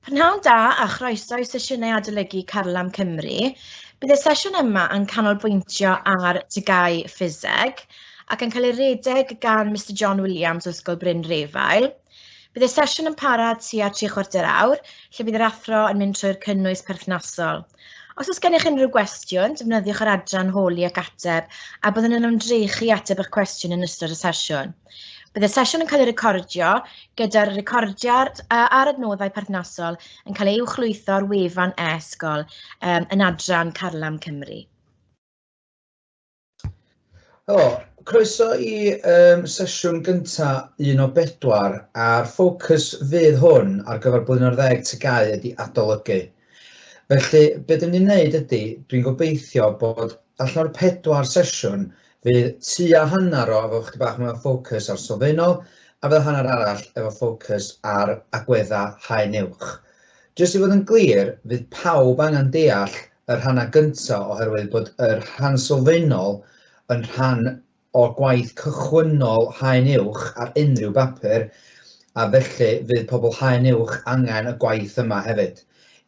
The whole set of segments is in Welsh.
Prynhawn da a chroeso i sesiynau adolygu Carlam Cymru. Bydd y sesiwn yma yn canolbwyntio ar tygau ffiseg ac yn cael ei redeg gan Mister John Williams o Ysgol Bryn Refael. Bydd y sesiwn yn para tua tri chwarter awr, lle bydd yr athro yn mynd trwy'r cynnwys perthnasol. Os oes gennych unrhyw gwestiwn, defnyddiwch yr adran holi ac ateb, a byddwn yn ymdrechu i ateb eich cwestiwn yn ystod y sesiwn. Bydd y sesiwn yn cael ei recordio gyda'r recordiad uh, a'r adnoddau perthnasol yn cael ei uwchlwytho ar wefan e-ysgol um, yn adran Carlam Cymru. Helo, croeso i um, sesiwn gyntaf un o bedwar a'r ffocws fydd hwn ar gyfer blwyddyn o'r ddeg tygau ydy adolygu. Felly, be dyn ni'n neud ydy, dwi'n gobeithio bod allan o'r pedwar sesiwn, fydd tua hanner o efo chydig bach mwy o ffocws ar sylfaenol, a fydd y hanner arall efo ffocws ar agwedda haen uwch. Jyst i fod yn glir, fydd pawb angen deall y rhannau gynta oherwydd bod yr rhan sylfaenol yn rhan o'r gwaith cychwynnol Haen Uwch ar unrhyw bapur, a felly fydd pobl Haen Uwch angen y gwaith yma hefyd.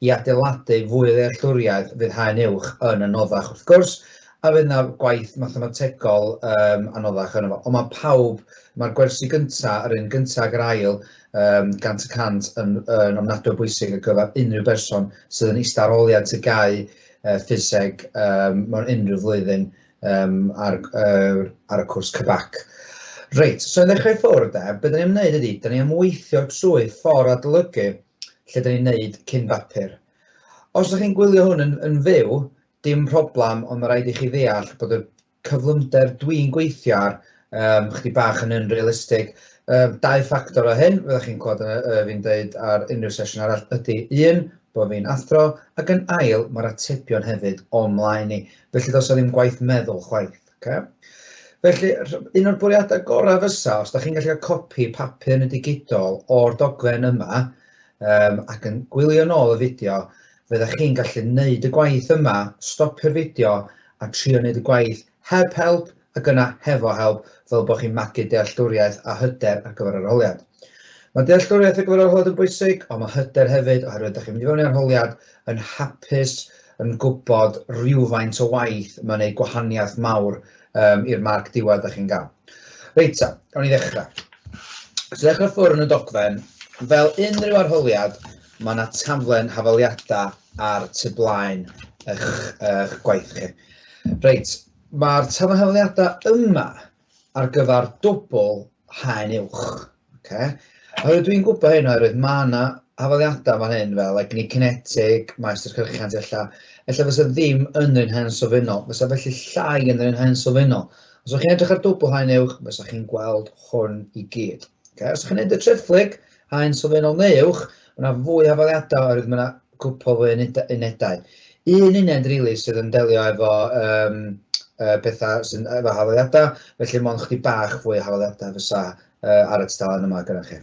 I adeiladu fwy o ddealltwriaeth fydd Haen Uwch yn anoddach wrth gwrs, a fydd yna gwaith mathemategol um, anoddach yno fo. Ond mae pawb, mae'r gwersi gyntaf, yr un gyntaf ag yr ail, um, gant y cant yn, yn ofnadwy o bwysig ar gyfer unrhyw berson sydd yn eistedd ar ôl iad tygau uh, ffiseg um, mewn unrhyw flwyddyn um, ar, uh, ar y cwrs cybac. Reit, so i ddechrau ffwrdd de, beth da ni'n gwneud ydy, da ni am weithio trwy ffordd adolygu lle da ni'n gwneud cyn bapur. Os ydych chi'n gwylio hwn yn, yn fyw, dim problem, ond mae rhaid i chi ddeall bod y cyflymder dwi'n gweithio ar um, chdi bach yn unrealistig. Um, dau ffactor o hyn, fyddwch chi'n clywed uh, fi'n dweud ar unrhyw sesiwn arall, ydy un, bod fi'n athro, ac yn ail, mae'r atebion hefyd o'n mlaen ni. Felly dos o ddim gwaith meddwl chwaith. Okay? Felly, un o'r bwriadau gorau fysa, os da chi'n gallu cael copi papur yn y digidol o'r dogfen yma, um, ac yn gwylio nôl y fideo, fydda chi'n gallu wneud y gwaith yma, stopio'r fideo a trio wneud y gwaith Heb help, ac yna hefo help, fel bod chi'n magu dealltwriaeth a hyder ar gyfer arholiad. Mae dealltwriaeth ar gyfer arholiad yn bwysig, ond mae hyder hefyd, oherwydd ydych chi'n mynd i fewn i arholiad yn hapus, yn gwybod rhywfaint o waith mae'n ei gwahaniaeth mawr um, i'r marc diwedd ydych chi'n gael. Reit ta, gawn ni ddechrau. So ddechrau ffwrn y dogfen, fel unrhyw arholiad, mae yna taflen hafaliadau ar tu blaen eich, eich gwaith chi. Reit, mae'r taflen hafaliadau yma ar gyfer dwbl haen uwch. Okay? Oherwydd dwi'n gwybod hyn oherwydd mae yna hafaliadau fan hyn fel egni cinetig, maestr cyrchiant ella, ella fysa ddim yn yr un haen sylfaenol, fysa felly llai yn yr un haen sylfaenol. Os ydych chi'n edrych ar dwbl haen uwch, fysa chi'n gweld hwn i gyd. Okay? Os ydych chi'n edrych y treflyg, Haen sylfaenol neu uwch, mae yna fwy o hafaliadau oherwydd mae yna cwpl fwy o unedau. Un uned rili sydd yn delio efo um, uh, pethau sy'n efo hafaliadau, felly mae'n chdi bach fwy o hafaliadau fysa uh, ar y tudalen yma gyda chi.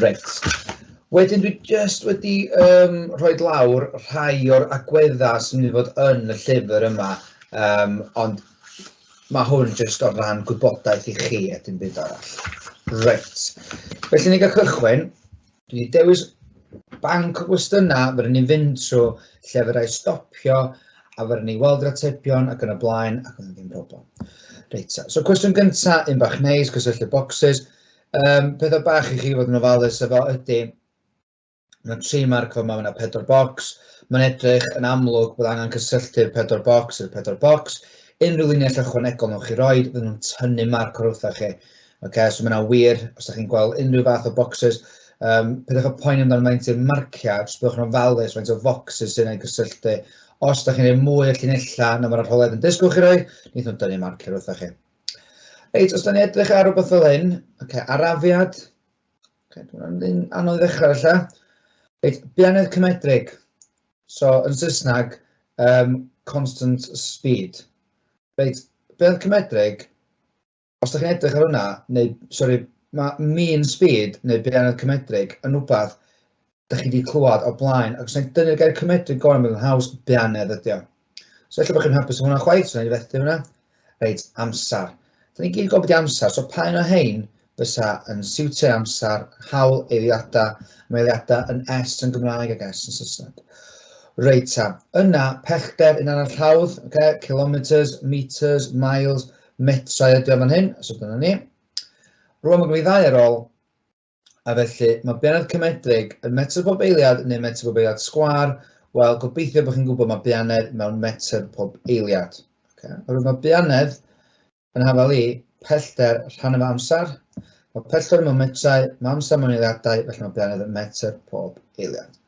Reit. Wedyn dwi just wedi um, rhoi lawr rhai o'r agweddau sy'n mynd i fod yn y llyfr yma, um, ond Mae hwn jyst o ran gwybodaeth i chi a dim byd arall. Reit. Felly ni gael cychwyn. Dwi wedi dewis banc o gwestiynau, fe ni'n fynd trwy lle fe rai stopio, a fe ni weld yr atebion ac yn y blaen, ac oedd ddim problem. Reit, so cwestiwn gyntaf, un bach neis, cysylltu bocsys. Um, pethau bach i chi fod yn ofalus efo ydy, Mae tri marc fo mae yna pedwar bocs. Mae'n edrych yn amlwg bod angen cysylltu'r pedwar bocs i'r pedwar bocs. Unrhyw linell ychwanegol nhw'n chi roed, fydden nhw'n tynnu marc o'r wrthau chi. Okay, so mae yna wir, os ydych chi'n gweld unrhyw fath o bocsys, um, pydych y poen amdano faint i'r marciau, jyst byddwch yn ofalus faint o focsys sy'n ei gysylltu. Os ydych chi'n ei mwy o llinellau na mae'r arholedd yn disgwyl chi roi, nid nhw'n dynnu marc i'r wrthau chi. Reit, os da ni edrych ar rhywbeth fel hyn, okay, arafiad, Okay, Dwi'n anodd ddechrau felly. Reit, bianedd cymedrig. So, yn Saesneg, um, constant speed. Reit, bianedd cymedrig, os ydych chi'n edrych ar hwnna, neu, sori, mae mean speed, neu bianedd cymedrig, yn rhywbeth da chi wedi clywed o blaen, ac os yna'n dynnu'r gair cymedryd gorau, mae'n haws beanedd ydi o. So efallai bod chi'n hapus o hwnna chwaith, so yna'n fethu hwnna. Reit, amser. Da ni'n gyd yn gofod i amser, so pa un o hein fysa yn siwtio amser, hawl eiliadau, mae eiliadau yn S yn Gymraeg ac S yn Saesneg. Reit ta, yna pellter yn arall hawdd, okay? kilometres, metres, miles, metrau ydi o fan hyn, so dyna ni. Rwan mae gen i ddau ar ôl, A felly, mae Bianed Cymedrig yn metr pob eiliad neu metr pob eiliad sgwar? Wel, gobeithio bod chi'n gwybod mae Bianed mewn metr pob eiliad. Okay. Oherwydd mae Bianed yn hafal i pellter rhan efo amser. Mae pellter mewn metrau, mae amser mewn eiliadau, felly mae Bianed yn metr pob eiliad.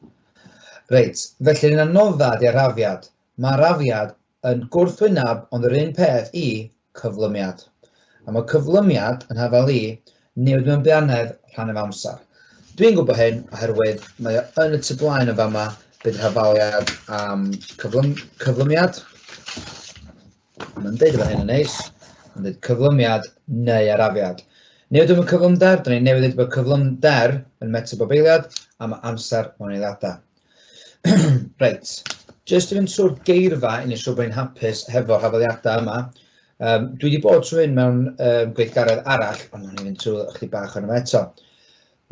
Reit, felly ni'n anodda di arafiad. Mae arafiad yn gwrthwyneb ond yr un peth i cyflymiad. A mae cyflymiad yn hafael i newid mewn beanedd rhan of amser. Dwi'n gwybod hyn oherwydd mae o yn y tu blaen yn fama bydd hafaliad am cyflym, cyflymiad. Mae'n dweud efo hyn yn neis. Mae'n dweud cyflymiad neu arafiad. Newid efo cyflymder, dyn ni'n newid bod cyflymder yn metabobeiliad am amser mewn eiliadau. Reit, jyst i fynd trwy'r geirfa i wneud siŵr bod ni'n hapus hefo'r hafaliadau yma. Um, dwi wedi bod trwy hyn mewn um, gweithgaredd arall, ond ni'n mynd trwy ychydig bach o'n yma eto.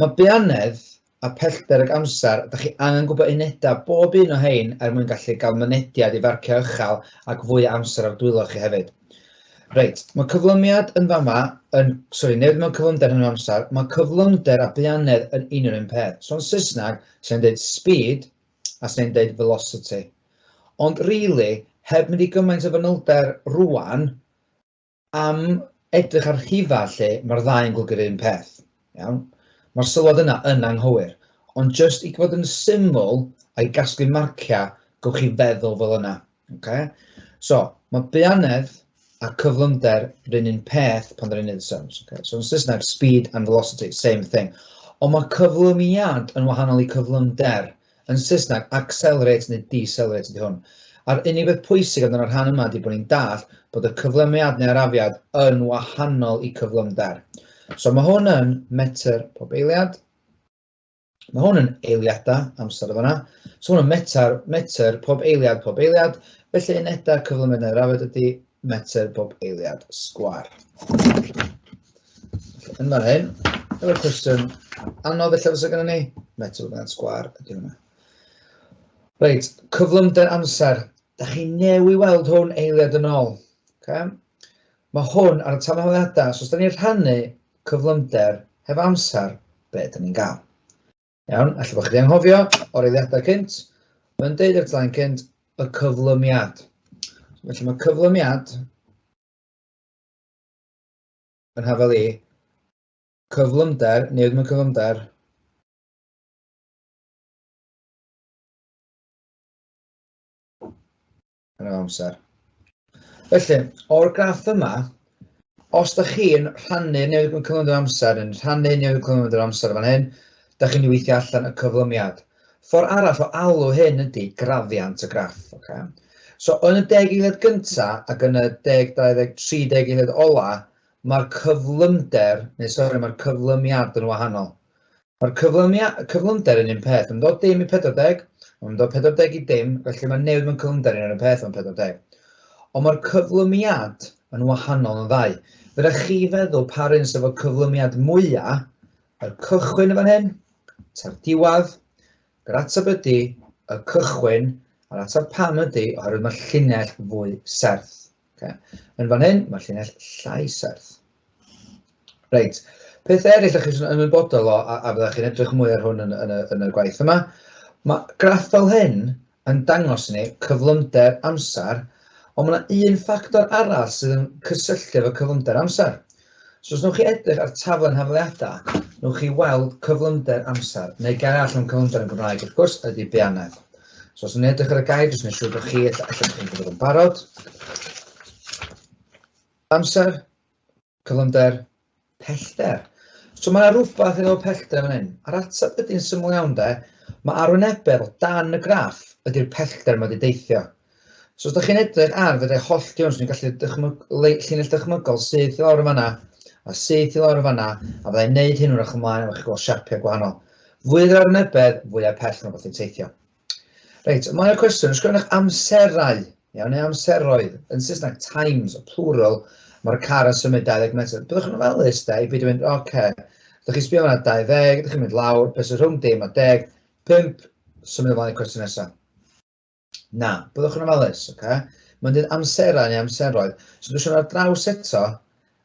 Mae beanedd a pellter ag amser, da chi angen gwybod unedau bob un o hein er mwyn gallu cael mynediad i farciau uchel ac fwy o amser ar dwylo chi hefyd. Reit, mae cyflymiad yn fama, yn, sorry, newid mewn cyflymder yn yr amser, mae cyflymder a buanedd yn un o'r un peth. So yn Saesneg, sy'n dweud speed a sy'n dweud velocity. Ond really, heb mynd i gymaint o fanylder rwan, am edrych ar rhifa lle, mae'r ddau yn gwlygu'r un peth. Iawn? Mae'r sylwad yna yn anghywir. Ond just i gwybod yn syml, a'i gasglu marciau, gwych chi feddwl fel yna. Okay. So, mae beanedd a cyflymder rhywun un peth pan rhywun un sums. Okay. So, yn Saesneg, speed and velocity, same thing. Ond mae cyflymiad yn wahanol i cyflymder. Yn Saesneg, accelerate neu decelerate ydy hwn. A'r unig beth pwysig amdano'r rhan yma ydy bod ni'n dall bod y cyflymiad neu'r afiad yn wahanol i cyflymder. So mae hwn yn metr pob eiliad. Mae hwn yn eiliadau amser o fanna. So hwn yn metr, metr, pob eiliad, pob eiliad. Felly unedau cyflymennau'r afed ydy metr bob eiliad sgwar. Yn fan hyn, efo'r cwestiwn anodd felly fysa gyda ni, metr bob eiliad sgwar ydy hwnna. Reit, cyflymder amser. Da chi newi weld hwn eiliad yn ôl. Okay? Mae hwn ar y tanholiadau, so os da ni'n rhannu cyflymder, heb amser, be dan ni'n gael. Iawn, allai bod chi wedi anghofio o'r eiliadau cynt, mae'n deud o'r tlaen cynt y cyflymiad. Felly mae cyflymiad yn hafel i cyflymder, newid mewn cyflymder, yn yr amser. Felly, o'r graff yma, os da chi'n rhannu newid mewn cyflymder amser, yn rhannu newid cyflymder amser fan hyn, da chi'n weithio allan y cyflymiad. Ffordd arall o alw hyn ydy grafiant y graff. Okay? So yn y deg eiliad gynta ac yn y deg 20, 30 eiliad ola, mae'r cyflymder, neu sori, mae'r cyflymiad yn wahanol. Mae'r cyflymiau, y cyflymder yn un peth, mae'n dod dim i 40, ond mae'n dod 40 i dim, felly mae newid mewn cyflymder yn yr un peth mewn 40. Ond mae'r cyflymiad yn wahanol yn y ddau. Fydda chi feddwl pa'r un sydd efo cyflymiad mwyaf, y cychwyn yn fan hyn, ta'r diwedd, yr ateb ydy y cychwyn, a'r ateb pam ydy oherwydd mae'r llinell fwy serth. Okay. Yn fan hyn, mae'r llinell llai serth. Reit, peth eraill ydych chi'n ymwybodol o, a, a byddwch chi'n edrych mwy ar hwn yn, yn, y, yn y gwaith yma, mae graff fel hyn yn dangos ni cyflymder amser, ond mae yna un ffactor arall sydd yn cysylltu efo cyflymder amser, So os wnewch chi edrych ar taflen hafaliadau, wnewch chi weld cyflymder amser, neu gair arall am cyflymder yn Gymraeg, wrth gwrs, ydy beanedd. So os wnewch chi edrych ar y gair, jyst neu siŵr bod chi, allan bod chi'n gwybod yn barod. Amser, cyflymder, pellter. So mae yna rhywbeth yn ôl pellter yn fan hyn. A'r ateb ydy'n syml iawn de, mae arwynebedd o dan y graff ydy'r pellter mae wedi deithio. So os da chi'n edrych ar fydde holl Jones, ni'n gallu dychmyg, llinell dychmygol syth i lawr y fanna, a syth i lawr y fanna, a fyddai'n neud hyn wrach ymlaen, a chi'n gweld siapiau gwahanol. Fwy yr arnybedd, fwy ar pell mae bod yn teithio. Reit, ymlaen y cwestiwn, ysgrifennych amserau, iawn, neu amseroedd, yn Saesneg, times, plural, mae'r car yn symud 20 metr. Byddwch yn ofalus da i beidio mynd, oce, okay. ydych chi'n sbio yna 20, ydych chi'n mynd lawr, beth sy'n rhwng dim a deg, 5, symud ymlaen y cwestiwn nesaf. Na, byddwch yn ofalus, oce? Okay? Mae'n dweud amserau neu amseroedd. So dwi'n siarad ar draws eto,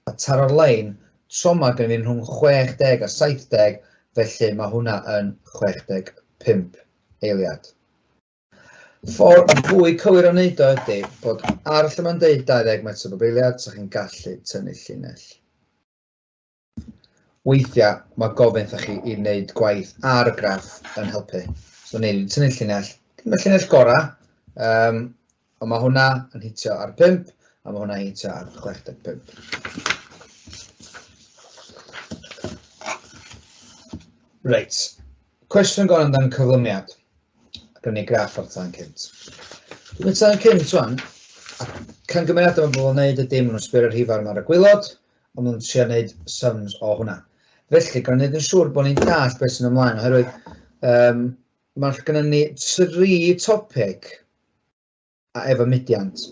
a taro'r lein, troma gen i'n rhwng 60 a 70, felly mae hwnna yn 65 eiliad. Ffordd y fwy cywir o wneud o ydy bod ar lle mae'n dweud 20 metr bob eiliad, so chi'n gallu tynnu llinell. Weithiau mae gofyn wrthoch chi i wneud gwaith ar y graff yn helpu. So neu ni'n tynnu llinell, dim y llinell gorau, um, ond mae hwnna yn hitio ar 5 a mae hwnna yn hitio ar 65. Reit, cwestiwn gorau amdano'n cyflymiad. Gwneud ni graff o'r tan cynt. Dwi'n tan cynt rwan, a cangymeriadau mae bobl yn gwneud y dim nhw'n sbio'r rhifau ar y gwylod, Ond nhw'n trio neud sums o hwnna. Felly, gan neud yn siŵr bod ni'n deall beth sy'n ymlaen, oherwydd um, mae'r gyda ni tri topeg a efo mudiant.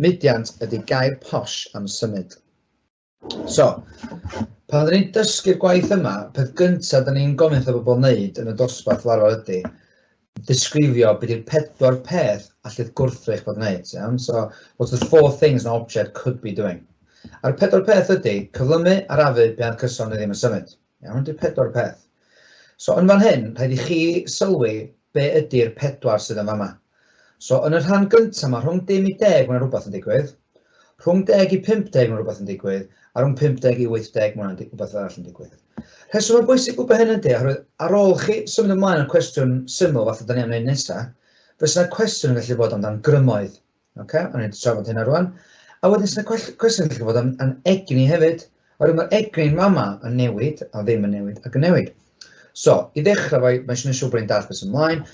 Mudiant ydy gair posh am symud. So, pan rydyn ni'n dysgu'r gwaith yma, peth gyntaf dyn ni'n gofyn wrth y bobl wneud yn y dosbarth larwar ydy, disgrifio beth yw'r pedwar peth allith gwrthrych bod yn gwneud, iawn? So, what's the four things an object could be doing? A'r pedwar peth ydy cyflymu, arafu, bead cyson neu ddim yn symud. Iawn, ydy'r pedwar peth. So, yn fan hyn, rhaid i chi sylwi be ydy'r pedwar sydd yn fama. So, yn y rhan gyntaf yma, rhwng dim i deg, mae'n rhywbeth yn digwydd. Rhwng deg i 50 mae rhywbeth yn digwydd, a rhwng 50 i 80 mae hwnna'n rhywbeth arall yn digwydd. Rheswm mae'n bwysig gwybod hyn ydy, oherwydd ar ôl chi symud ymlaen o'r cwestiwn syml fath o da ni am wneud nesaf, fe sy'n cwestiwn yn gallu bod amdan grymoedd. Okay? O'n i'n trafod hynna rwan. A wedyn sy'n cwestiwn yn gallu bod am, am egni hefyd. Yr un mor egni mae yma yn newid a ddim yn newid ac yn newid. So, i ddechrau fo, mae eisiau gwneud siŵr bod ni'n dallt beth sy'n ymlaen.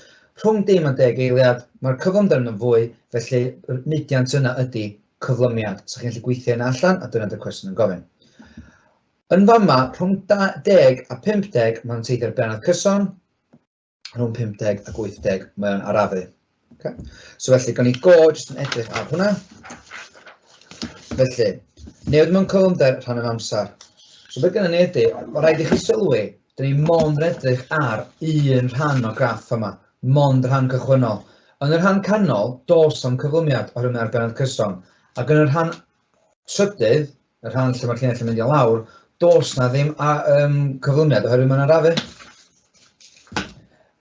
Rhwng dim a deg eiliad, mae'r cyflymder yn y fwy, felly yr mudiant yna ydy cyflymiad. Sa chi'n gallu gweithio hynna allan a dyna dy'r cwestiwn yn gofyn. Yn fama, rhwng 10 a 50, mae'n teithio'r benod cyson, rhwng 50 ac 80 mae o'n arafu. Okay. So felly, gan i go jyst yn edrych ar hwnna. Felly, newid mewn cyflymder rhan yn amser. So beth gyda ni ydy, o rhaid i chi sylwi, dyn ni mond edrych ar un rhan o graff yma, mond rhan cychwynnol. Yn y rhan canol, dos am cyflymiad oherwydd mae'r benod cyson, ac yn y rhan trydydd, y rhan lle mae'r llinell yn mynd i lawr, does na ddim a, um, cyflymiad oherwydd mae'n arafu.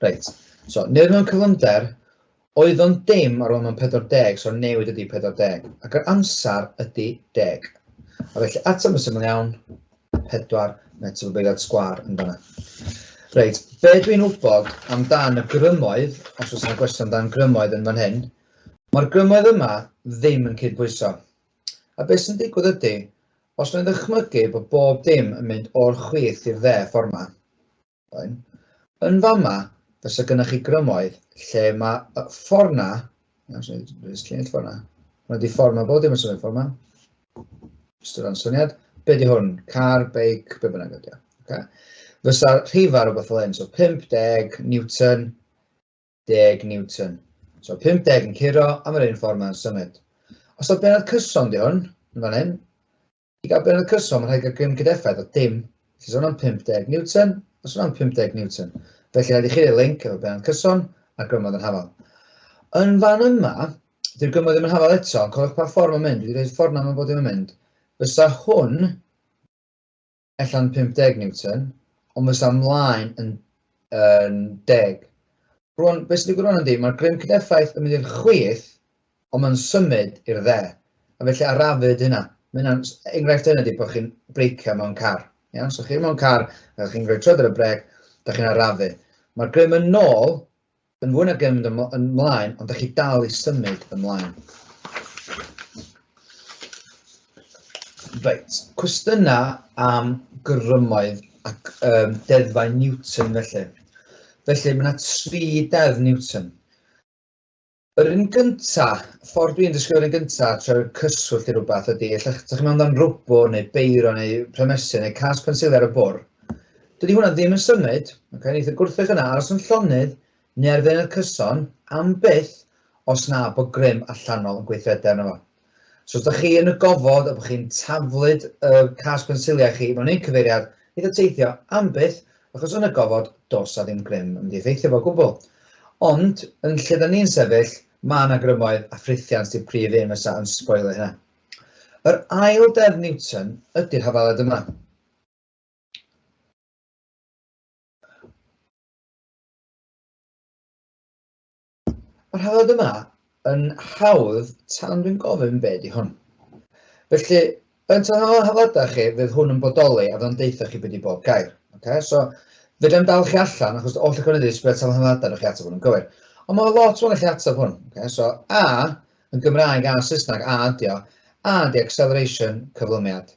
Reit, so nid mewn cyflymder, oedd o'n dim ar ôl mewn 40, so newid ydy 40, ac yr amser ydy 10. A felly ateb yn syml iawn, 4 metr o beiriad sgwar yn dyna. Reit, be dwi'n wybod amdan y grymoedd, os oes yna gwestiwn amdan grymoedd yn fan hyn, Mae'r grymoedd yma ddim yn cydbwyso. A beth sy'n digwydd ydy, os na i ddychmygu bod bob dim yn mynd o'r chwith i'r dde ffordd ma. Fine. Yn fama, fysa gynnwch chi grymoedd lle mae y ffordd na, iawn, so dwi'n lluniau'r ffordd na, hwnna di ffordd ma, bob dim yn symud ffordd ma. Just o ran syniad, be di hwn? Car, beic, be bynnag ydy o. Okay. Fysa'r rhifau rhywbeth fel hyn, so 50 Newton 50 Newton. So 50 yn curo am yr un ffordd mae'n symud. Os oedd benod cyson di hwn, yn fan hyn, i gael benod cyson mae'n rhaid gael grym cydeffaith o dim. Felly sôn am 50 Newton, a sôn am 50 Newton. Felly rhaid i chi ei link efo benod cyson a grymodd yn hafal. Yn fan yma, dy'r grymodd ddim yn hafal eto, ond cofiwch pa ffordd mae'n mynd, wedi rhaid ffordd na mae'n bod ddim yn mynd. Fysa hwn ella yn 50 Newton, ond fes am mlaen yn, yn 10. Rwan, beth sy'n digwydd rwan ydy, mae'r grym cydeffaith yn mynd i'r chwith, ond mae'n symud i'r dde. A felly arafyd hynna. Mae hynna'n enghraifft hynny ydy bod chi'n breicio mewn car. Iawn, so chi mewn car, a chi'n rhoi trod ar y brec, da chi'n arafu. Mae'r grym yn nôl Yn fwy na dim yn ymlaen, ond da chi dal i symud ymlaen. Reit, cwestiynau am grymoedd ac um, deddfau Newton felly. Felly mae yna tri deddf Newton. Yr un gynta, ffordd dwi'n dysgu yr un gynta, trwy'r cyswllt i rhywbeth ydy, lle chi'n meddwl amdano'n rwbw neu beiro neu premesu neu cas pensil ar y bwr, Dydy hwnna ddim yn symud, okay? neith y gwrthrych yna aros yn llonydd neu ar ddeunydd cyson am byth os na bod grym allanol yn gweithredu arno fo. So os da chi yn y gofod a bod chi'n taflud y cas pensiliau chi mewn un cyfeiriad, neith o teithio am byth achos yn y gofod dos a ddim grym yn mynd i effeithio fo gwbl. Ond yn lle da ni'n sefyll, mae yna grymoedd a ffrithiant di'r prif un fysa yn sboilio hynna. Yr ail deddf Newton ydy'r hafaliad yma. Mae'r rhaglen yma yn hawdd tan dwi'n gofyn be di hwn. Felly, yn tan o'n hafadau chi, fydd hwn yn bodoli a fyddwn deitha chi beth i bob gair. Okay? So, fydden dal chi allan, achos oll y cynnydd sbred tan o'n hafadau, chi ateb hwn yn gywir. Ond mae lot o'n chi ateb hwn. Okay? So, A, yn Gymraeg a Saesneg, A ydi o. A ydi acceleration, cyflymiad.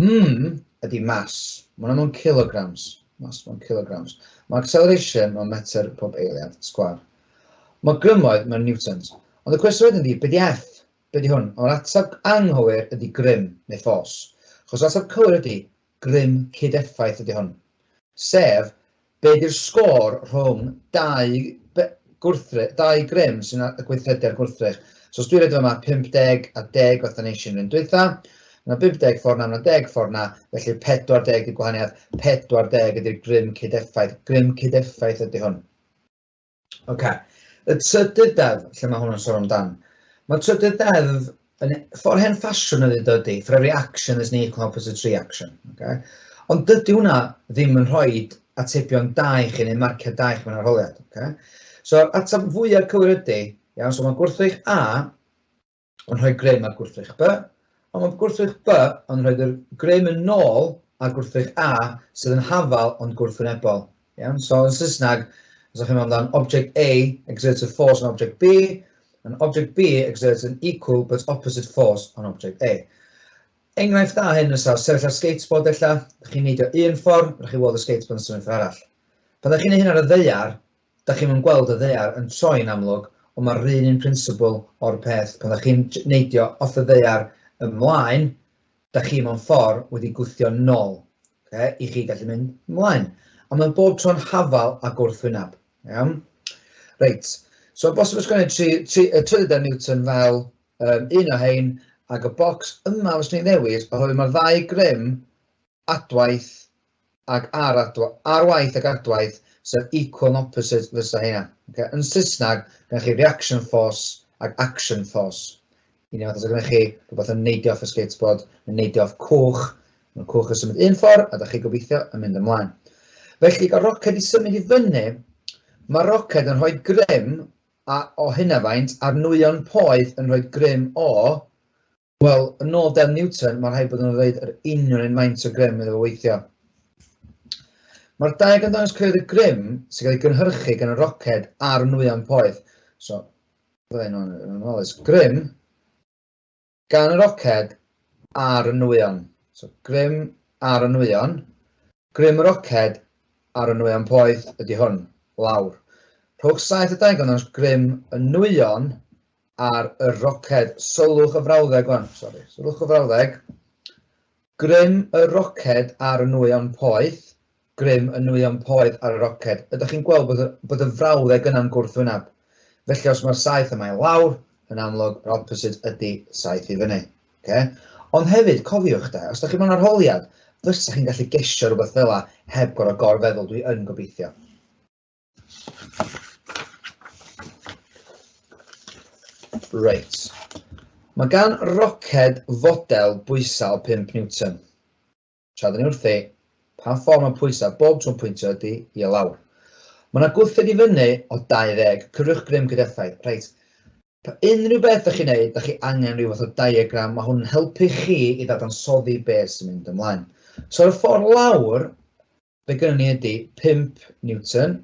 Mm ydy mass. Mae hwnna mewn kilograms. Mass mewn kilograms. Mae acceleration mewn metr pob eiliad, sgwar. Mae grymoedd mewn newtons. Ond y cwestiwn wedyn ydy, be di F? Be di hwn? O'r ateb anghywir ydy grym, neu ffos. Chos ateb cywir ydy, grym cyd-effaith ydy hwn. Sef, Be di'r sgôr rhwng dau gwrthrych, dau grym sy'n ar y gweithredu ar gwrthrych? So os dwi'n rhaid yma 50 a 10 fatha nes i yn yr un dwytha, mae 50 ffordd na, mae 10 ffordd na, felly 40 di'r gwahaniaeth, 40 ydy'r grym cyd-effaith, grym cyd-effaith ydy hwn. Ok, y trydydd deddf, lle mae hwn yn sôn amdan. Mae trydydd deddf yn ffordd hen ffasiwn ydy dydy, for every action is an equal opposite reaction. Okay? Ond dydy hwnna ddim yn rhoi atebion da i chi neu marciau da i chi mewn arholiad. Okay? So, atab fwyaf cywir ydy, iawn, so mae gwrthrych A yn rhoi grym ar gwrthrych B, ond mae gwrthrych B yn rhoi yr grym yn nôl ar gwrthrych A sydd yn hafal ond gwrthwynebol. Iawn? So yn Saesneg, os ydych chi'n meddwl amdano, object A exerts a force on object B, and object B exerts an equal but opposite force on object A. Enghraifft da hyn yn sawr, sefyll ar skateboard ella, ydych chi'n neidio un ffordd, rydych chi'n weld y skateboard yn symud ffordd arall. Pan ydych chi'n ei hyn ar y ddeiar, Dach chi'm yn gweld y ddaear yn troi'n amlwg, ond mae'r run un prinsibl o'r peth, pan dach chi'n neidio off y ddaear ymlaen, dach chi mewn ffor' wedi gwthio nol, ocê, i chi gallu mynd ymlaen. A mae bob tro'n hafal a gwrthwyneb. Iawn? Reit, so bosib ysgrifennu tri, tri, y trydedd Newton fel um, un o hein, ac y bocs yma fyswn i'n ddewis, oherwydd mae'r ddau grym adwaith ag ar adwaith, ar waith ag adwaith, sef equal and opposite fysa hynna. Okay? Yn Saesneg, gyda chi reaction force ag action force. Un fath os gyda chi rhywbeth yn neidio off y skateboard, yn neidio off cwch, mae'r cwch yn symud un ffordd a da chi gobeithio yn mynd ymlaen. Felly, gael roced i symud i fyny, mae roced yn rhoi grym a, o hynna faint, a'r nwyon poeth yn rhoi grym o Wel, yn ôl Del Newton, mae'n rhaid bod nhw'n dweud yr union un maint o grym iddo fo weithio. Mae'r daeg yn dangos creu'r grym sy'n cael ei gynhyrchu gan y roced a'r nwyon poeth. So, byddai'n anolis grym gan y roced a'r nwyon. So, grym ar y nwyon, grym y roced ar y nwyon poeth ydy hwn, lawr. Rhowch saith y daeg yn dangos grym y nwyon ar y roced, sylwch y frawddeg wan, sori, sylwch y frawddeg, grym y roced ar y nwyon poeth, grym y nwyon poeth ar y roced. Ydych chi'n gweld bod y, bod y frawddeg yna'n gwrthwyneb? Felly os mae'r saith yma i lawr, yn amlwg, yr opposite ydy saith i fyny. Okay? Ond hefyd, cofiwch da, os ydych chi'n mewn arholiad, fysa chi'n gallu gesio rhywbeth fel yna heb gorau gorfeddwl, dwi yn gobeithio. Reit. Mae gan roced fodel bwysau 5 newton. Tra dyn ni wrthi, pa ffordd mae pwysau bob trwy'n pwyntio ydy i o lawr. Mae yna gwrthyd i fyny o 20, cyfrwch grym gyda effaith. Reit, pa unrhyw beth ydych chi'n neud, ydych chi angen rhyw fath o diagram, mae hwn yn helpu chi i ddadansoddi beth sy'n mynd ymlaen. So, ar y ffordd lawr, Be gynnon ni ydy 5 Newton.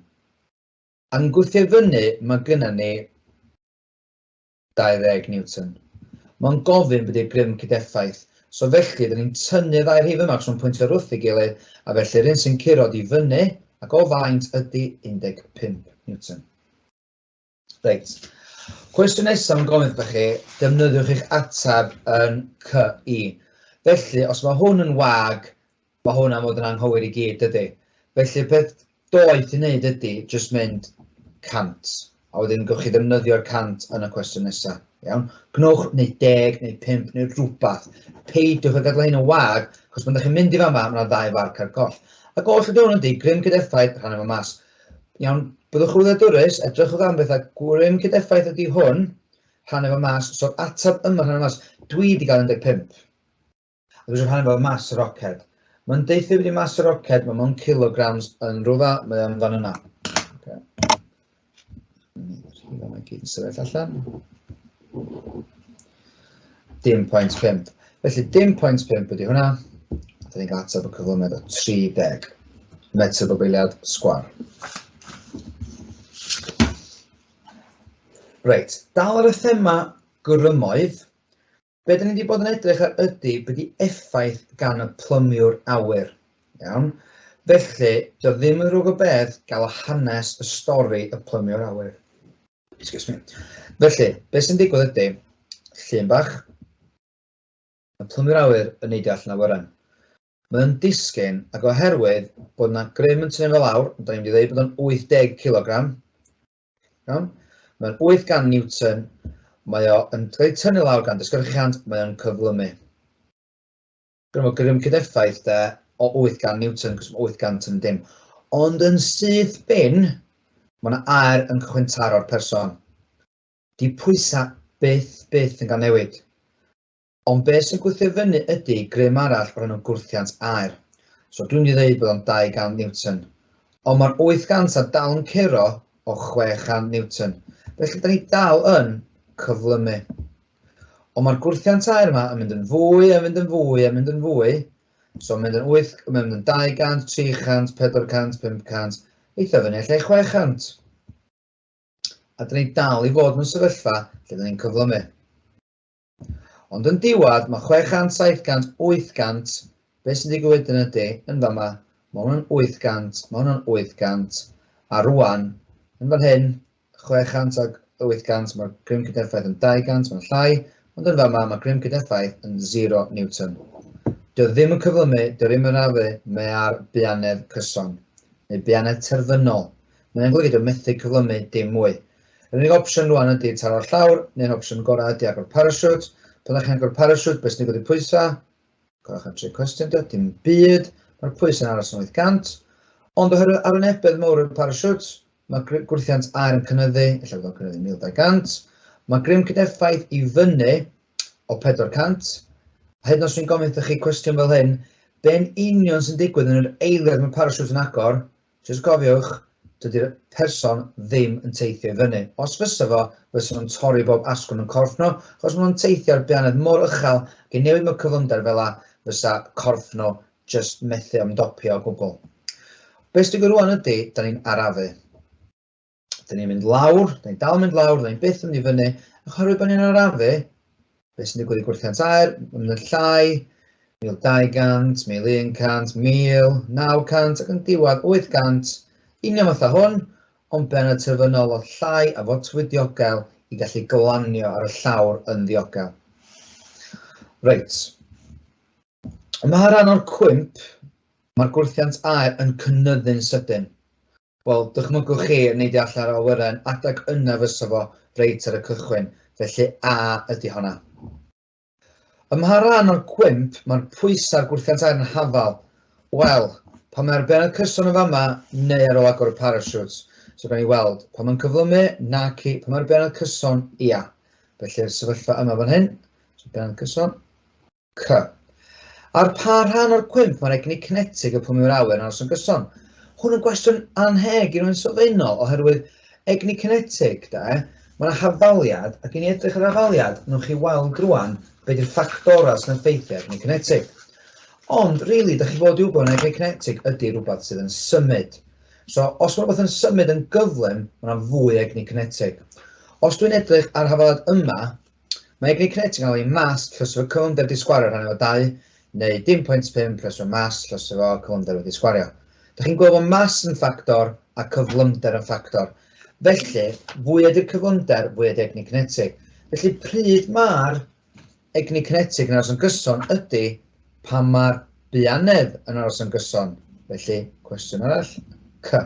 A'n gwthio fyny, mae gynnon ni 20 Newton. Mae'n gofyn bod i'r grym cydeffaith. So felly, dyn ni'n tynnu ddau rhif yma, cos nhw'n pwyntio ar wrth ei gilydd, a felly rhywun sy'n curod i fyny, ac o faint ydy 15 Newton. Reit. Cwestiwn nesaf yn gofyn wrthych chi, defnyddiwch eich ateb yn CI. Felly, os mae hwn yn wag, mae hwn am fod yn anghywir i gyd, dydy. Felly, beth doeth i wneud ydy jyst mynd 100, a wedyn gwych chi ddefnyddio'r 100 yn y cwestiwn nesaf. Iawn? Gnwch neu 10 neu 5 neu rhywbeth. Peidiwch â gadael hyn yn wag, achos pan ydych chi'n mynd i fama, mae yna ddau farc ar goll. Ac oll ydy hwn ydy, grym cydeffaith, rhan efo mas. Iawn, byddwch yn wladwrus, edrychwch am bethau gwryw'n cydeffaith ydy hwn, rhannu fo mas, so'r atab yma rhannu mas, dwi di gael 15. A dwi eisiau rhannu fo mas y roced. Mae'n deuthu wedi mas y roced, mae mewn kilograms yn rhywfa, mae o'n fan yna. Okay. Rhywle mae gyd yn sefyll allan. Dim pwynt 5. Felly dim pwynt 5 ydy hwnna. Dyn ni'n cael ateb y cyflymiad o 30 metr o beiliad sgwar. Reit, dal ar y thema grymoedd, be dyn ni wedi bod yn edrych ar ydy be di effaith gan y plymiwr awyr. Iawn? Felly, dio ddim yn rhwg o beth gael hanes y stori y plymiwr awyr. Excuse me. Felly, be sy'n digwydd ydy, llun bach, y plymiwr awyr yn neidio allan o wyren. Mae'n disgyn, ac oherwydd bod yna grym yn tynnu fel awr, da ni'n mynd i ddweud bod o'n 80 kg, Iawn? Mae'n 8 gan Newton, mae o yn cael ei tynnu lawr gan dysgyrchiant, mae o'n cyflymu. Gwneud o grym cydeffaith de, o 8 gan Newton, cos mae 8 gan yn dim. Ond yn syth bin, mae yna air yn cychwyn taro'r person. Di pwysau byth, byth yn cael newid. Ond be sy'n gwthio fyny ydy grym arall o'r enw gwrthiant aer. So dwi'n mynd i ddeud bod o'n 200 Newton. Ond mae'r 800 a dal yn curo o 600 Newton. Felly da ni dal yn cyflymu. Ond mae'r gwrthiant aer yma yn mynd yn fwy, yn mynd yn fwy, yn mynd yn fwy. So mae'n mynd yn 8, mae'n mynd yn 200, 300, 400, 500, eitha fyny allai 600. A da ni dal i fod mewn sefyllfa lle da ni'n cyflymu. Ond yn diwadd, mae 600, 700, 800, beth sy'n digwydd wedyn ydy, yn fama, mae hwnna'n 800, mae hwnna'n 800, a rwan, yn fan hyn, 600 ag 800, mae'r grym cydeffaith yn 200, mae'n llai, ond yn fama, mae grym cydeffaith yn 0 Newton. Dio ddim yn cyflymu, dio ddim yn rafu, mae ar buanedd cyson, neu buanedd terfynol. Mae'n golygu dio methu cyflymu dim mwy. Yr unig opsiwn rwan ydy taro'r llawr, neu'r opsiwn gorau ydy agor parasiwt. Pan ydych chi'n agor parasiwt, beth sy'n digwydd i'r pwysau? Gwelwch yn tri cwestiwn dy, dim byd, mae'r pwysau'n aros yn 800. Ond oherwydd arwynebedd mawr y parasiwt, mae gwrthiant aer yn cynyddu, efallai bod o'n cynyddu 1200. Mae grym cydeffaith i fyny o 400. A hyd yn oes dwi'n gofyn wrthych chi cwestiwn fel hyn, be'n union sy'n digwydd yn yr eiliad mae parasiwt yn agor, Jyst cofiwch, dydi'r person ddim yn teithio i fyny. Os fysa fo, fysa nhw'n torri bob asgwrn yn corff nhw, achos maen nhw'n teithio ar beanedd mor uchel ac i newid mewn cyflymder fel 'na, fysa corff nhw jyst methu ymdopi o gwbl. Be' sy'n digwydd rŵan ydi, 'dan ni'n arafu. Dyn ni'n mynd lawr, dyn ni'n dal yn mynd lawr, dyn ni'n byth yn mynd i fyny, a chorwyd bod ni'n arafu, beth sy'n digwydd i gwrthiant air, yn y llai, 1200, 1100, 1900 ac yn diwedd 800, union fatha hwn, ond ben y terfynol oedd llai a fotwyd diogel i gallu glanio ar y llawr yn ddiogel. Reit. Mae rhan o'r cwymp, mae'r gwrthiant aer yn cynnyddu'n sydyn. Wel, dychmygwch chi, nid all yr awyren adeg yna fysa fo reit ar y cychwyn, felly a ydi honna? Ym mha ran o'r cwymp mae'r pwysau a'r gwrthiant aer yn hafal? Wel, pan mae'r bennod cyson yn fama, neu ar ôl agor y parachutes. So gawn ni weld, pan mae'n cyflymu, naci, pan mae'r bennod cyson, ia. Felly'r sefyllfa yma fan hyn, so bennod cyson. C. Ar pa rhan o'r cwymp mae'r egni cinetig y pwm yw'r awyr yn aros yn gyson? Hwn yn gwestiwn anheg i rwy'n sylfaenol oherwydd egni cinetig, de, mae yna hafaliad ac i ni edrych ar hafaliad, nwch chi weld rwan be di'r ffactorau sy'n effeithio egni cinetig. Ond, really, da chi fod i wybod yn egni cinetig ydy rhywbeth sydd yn symud. So, os mae rhywbeth yn symud yn gyflym, mae yna fwy egni cinetig. Os dwi'n edrych ar hafaliad yma, Mae Great Connect yn cael ei mas llys efo cyflymder disgwario rhan efo 2, neu 10.5 llys efo mas llys efo cyflymder wedi sgwario. Da chi'n gweld bod mas yn ffactor a cyflymder yn ffactor. Felly, fwy ydy'r cyflymder, fwy ydy egni cinetig. Felly, pryd mae'r egni cinetig yn aros yn gyson ydy Pam mae'r buanedd yn aros yn gyson, felly? Cwestiwn arall. C.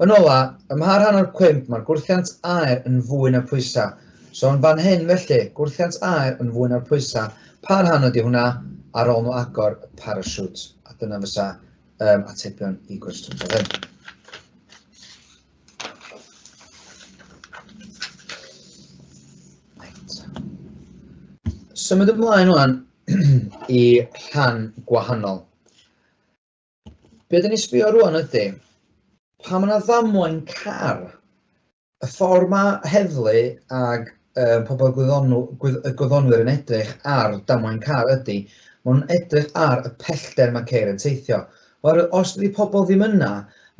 Yn ola, ym mha rhan o'r cwymp mae'r gwrthiant aer yn fwy na phwysau? So yn fan hyn, felly, gwrthiant aer yn fwy na'r pwysau, pa rhan ydy hwnna ar ôl nhw agor y parasiwt? A dyna fysa um, atebion i gwestiwn fel hyn. Symud ymlaen wan i rhan gwahanol. Be dyn ni'n sbio rwan ydy, pa mae yna ddamwain car, y ffordd mae heddlu ag y pobl gwyddonw, gwydd, y gwyddonwyr yn edrych ar damwain car ydy, maen nhw'n edrych ar y pellter mae ceir yn teithio. Oherwydd os ydy pobl ddim yna,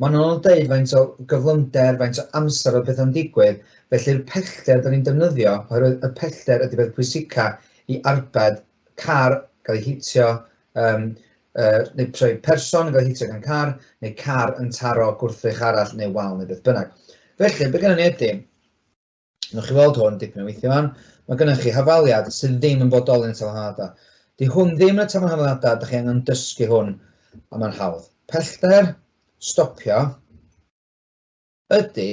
maen nhw'n dweud faint o gyflymder, faint o amser o bethau'n digwydd, felly'r pellter dyn ni'n defnyddio, oherwydd y pellter ydy beth pwysica i arbed car gael ei hitio, um, uh, neu trwy person gael ei hitio gan car, neu car yn taro gwrthrych arall neu wal neu beth bynnag. Felly, be gennym ni ydy, Nwch chi weld hwn dipyn o weithio fan. Mae gennych chi hafaliad sydd ddim yn bodoli yn y tafarn hafaliadau. Di hwn ddim yn y tafarn hafaliadau, da chi angen dysgu hwn, a mae'n hawdd. Pellter, stopio, ydy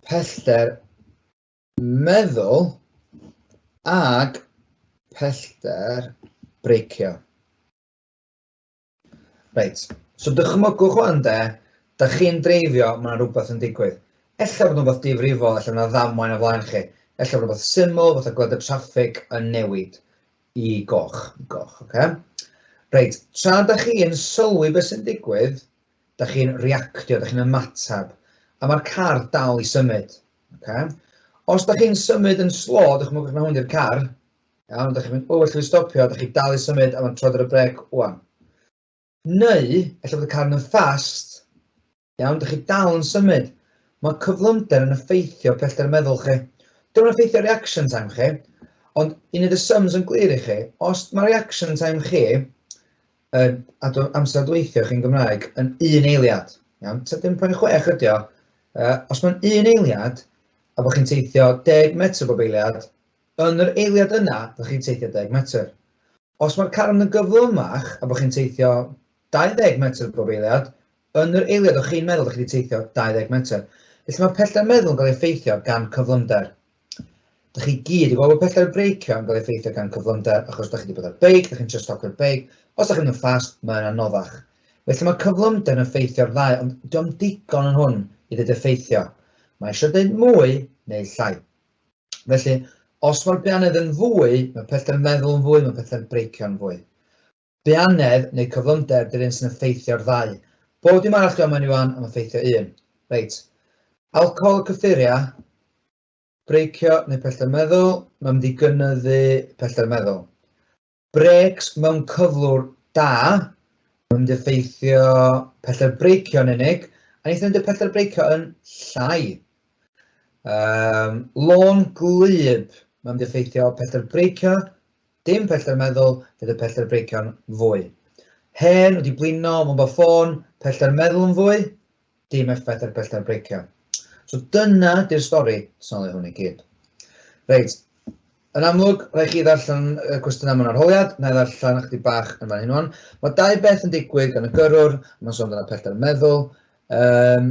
pellter meddwl ag pellter breicio. Reit, so dychmygwch o'n de, da chi'n dreifio, mae yna rhywbeth yn digwydd. Ella bod yna rhywbeth difrifol, ella yna ddamwain o flaen chi. Ella bod rhywbeth syml, fatha gweld y traffig yn newid i goch, i goch, oce? Okay? Reit, tra da chi'n sylwi beth sy'n digwydd, da chi'n reactio, da chi'n ymateb, a mae'r car dal i symud. Okay? Os da chi'n symud yn slo, dychmygwch na hwn i'r car, Iawn, ydych chi'n mynd, o, allwn ni stopio, ydych chi'n dal i symud, a mae'n trod ar y brec, wan. Neu, efallai bod y car yn fast, iawn, ydych chi dal yn symud. Mae cyflymder yn effeithio pellter meddwl chi. Dwi'n yn effeithio reaction time chi, ond un of the sums yn glir i chi, os mae reaction time chi, uh, amser dweithio chi'n Gymraeg, yn un eiliad, iawn, 7.6 ydi o, uh, os mae'n un eiliad, a bod chi'n teithio 10 metr bob eiliad, Yn yr eiliad yna, dych chi'n teithio deg metr. Os mae'r carn yn gyflymach a bod chi'n teithio 20 metr bob eiliad, yn yr eiliad o'ch chi'n meddwl dych chi wedi teithio 20 metr. Felly mae pellter meddwl yn cael ei effeithio gan cyflymder. Dych chi gyd yn gweld bod pellter breicio yn cael ei effeithio gan cyflymder achos dych chi wedi bod ar beic, dych chi'n trio stopio'r beic, os dych chi'n mynd yn ffast, mae'n anoddach. Felly mae cyflymder yn effeithio'r ddau, ond diolch yn ddigon yn hwn i ddeud effeithio. Mae eisiau dweud mwy neu llai. Felly, os mae'r beanedd yn fwy, mae pellter meddwl yn fwy, mae pellter breicio yn fwy. Beanedd neu cyflymder, dy'r un sy'n effeithio'r ddau. Bob dim arall dwi'n mewn iwan am effeithio un. Reit. Alcohol y cyffuria, breicio neu pellter meddwl, mae'n mynd i gynyddu pellter meddwl. Brêcs mewn cyflwr da, mae'n mynd i effeithio pellter breicio yn unig, a wnaethon ni'n pellter breicio yn llai. Um, lôn glyb, mae'n mynd i effeithio pellter breicio, dim pellter meddwl, bydd y pellter breicio'n fwy. Hen wedi blino, mae'n bod ffôn, pellter meddwl yn fwy, Dim effaith ar bellter breicio. So dyna di'r stori, sôn hwn i gyd. Reit, yn amlwg, rhaid chi ddarllen y cwestiynau mewn arholiad, na i ddarllen ychydig bach yn fan hyn o'n. Mae dau beth yn digwydd gan y gyrrwr, mae'n sôn dyna pellter meddwl, um,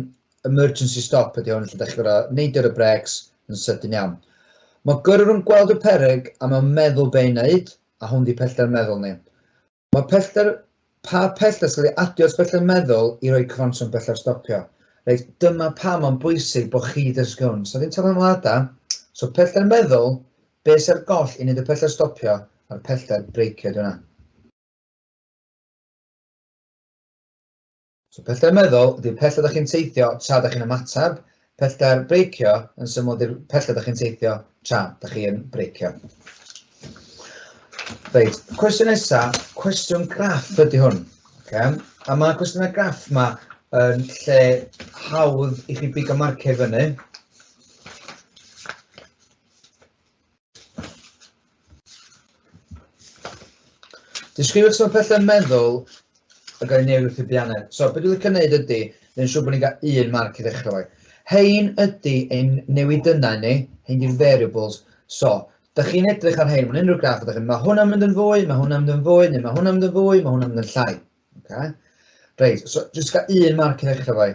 emergency stop ydy hwn, lle da chi gorau neidio y brecs yn sydyn iawn. Mae gyrrwr yn gweld y pereg a mae'n meddwl be i wneud, a hwn di pellter meddwl ni. Mae pellter, pa pellter sydd wedi adio at bellter meddwl i roi cyfanswm bellter stopio. Reit, dyma pa mae'n bwysig bod chi ddysgwn. So ddim tafarn lada, so pellter meddwl, beth sy'r goll i wneud y pellter stopio a'r pellter breicio, dyna. So pellter meddwl ydy'r pellter ydych chi'n teithio tra ydych chi'n ymateb, pellter breicio yn syml ydy'r pellter ydych chi'n teithio tra ydych chi'n breicio. Reit, cwestiwn nesaf, cwestiwn graff ydy hwn. Okay. A mae cwestiwn y graff yma yn lle hawdd i chi bigo marciau fyny. Disgrifio sut mae pethau meddwl yn cael ei newid wrth i bianau. So, beth dwi'n licio gwneud ydy, dwi'n siŵr bod ni'n cael un marc i ddechrau fo. Hein ydy ein newidynnau ni, hein di'r variables. So, da chi'n edrych ar hein, mae'n unrhyw graff ydych chi'n, mae hwnna'n mynd yn fwy, mae hwnna'n mynd yn fwy, neu mae hwnna'n mynd yn fwy, mae hwnna'n mynd yn llai. Okay? Reit, so, jyst cael un marc i ddechrau fo.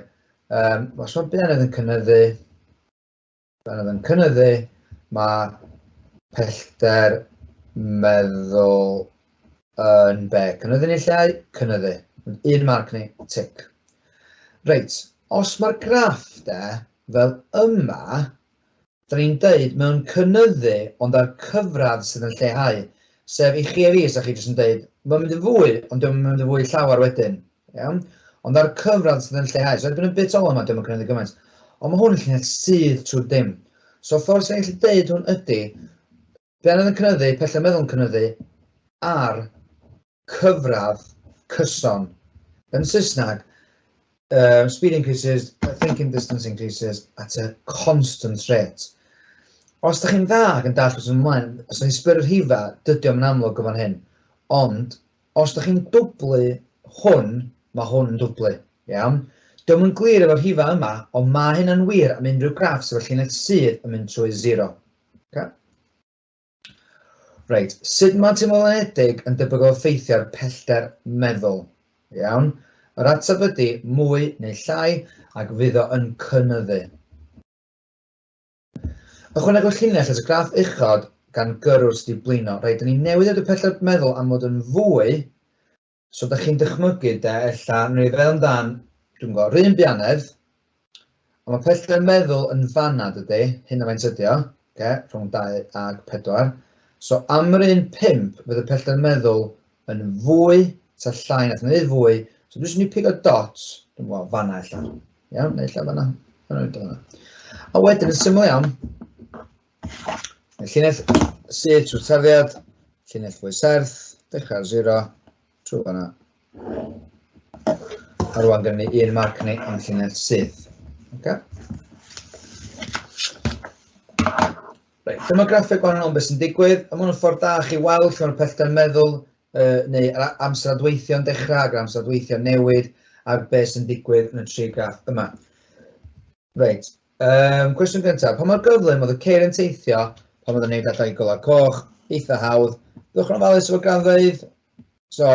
Um, os mae bianau yn cynnyddu, Pan oedd yn cynyddu, mae pellter meddwl yn be? Cynyddu neu lleu? Cynyddu. Un marc ni, tic. Reit, os mae'r graff de, fel yma, da ni'n deud mewn cynyddu ond ar cyfradd sydd yn lleihau. Sef i chi a fi, sa chi jyst yn deud, mae'n mynd yn fwy, ond dwi'n mynd yn fwy llawer wedyn. Iawn? Ond ar y cyfradd sydd yn lleihau. So erbyn y bit ola yma, dwi ddim yn cynyddu gymaint. Ond mae hwn yn llinell sydd trwy dim. So ffordd sy'n gallu deud hwn ydy, be anodd yn cynyddu, pellau'n meddwl yn cynyddu, ar cyfradd cyson yn Saesneg, uh, speed increases, thinking distance increases at a constant rate. Os da chi'n dda ac yn dall wrth ymlaen, os ydych chi'n sbyr'r rhifa, dydy o'n amlwg o fan hyn. Ond, Os dych chi'n dwblu hwn, mae hwn yn dwblu. Iawn? Dio'm yn glir efo'r rhifau yma, ond mae hynna'n wir am unrhyw graffs efo llinell sydd yn mynd trwy zero. Okay? Reit, sut mae teimlolanedig yn debygol effeithio ar pellter meddwl? Iawn? Yr ateb ydy mwy neu llai ac fydd o yn cynyddu. Ychwanegwch llinell at y graff uchod gan gyrrwr sydd wedi blino. Reit, dyn ni newydd edrych pellter meddwl am fod yn fwy, so da chi'n dychmygu de, ella, neu i feddwl amdan, dwi'n gwybod, rhywun bianedd, ond mae pellter meddwl yn fanna dydy, hyn o faint ydi o, okay, rhwng 2 ag 4. So am yr un 5, fydd y pellter meddwl yn fwy, ta llai na, mae'n neud fwy, so dwi'n mynd i pigo dot, dwi'n meddwl, fanna illa. Iawn, neu illa fanna, fanna illa fanna. A wedyn, yn syml iawn, y llinell sydd trwy tarddiad, llinell fwy serth, dechrau ar zero, trwy fanna. A rwan gen ni un marc ni am llinell sydd. Okay? Reit, dyma graffeg gwahanol beth sy'n digwydd, a mae'n ffordd da chi weld lle mae'r pellter meddwl uh, neu amser adweithio'n dechrau ac amser adweithio'n newid a'r beth sy'n digwydd yn y tri graff yma. Reit, um, cwestiwn gyntaf, pa mae'r gyflym oedd y ceir yn teithio pan oedd yn gwneud allai golau coch, eitha hawdd, ddwch yn ofalus efo granddfeydd, so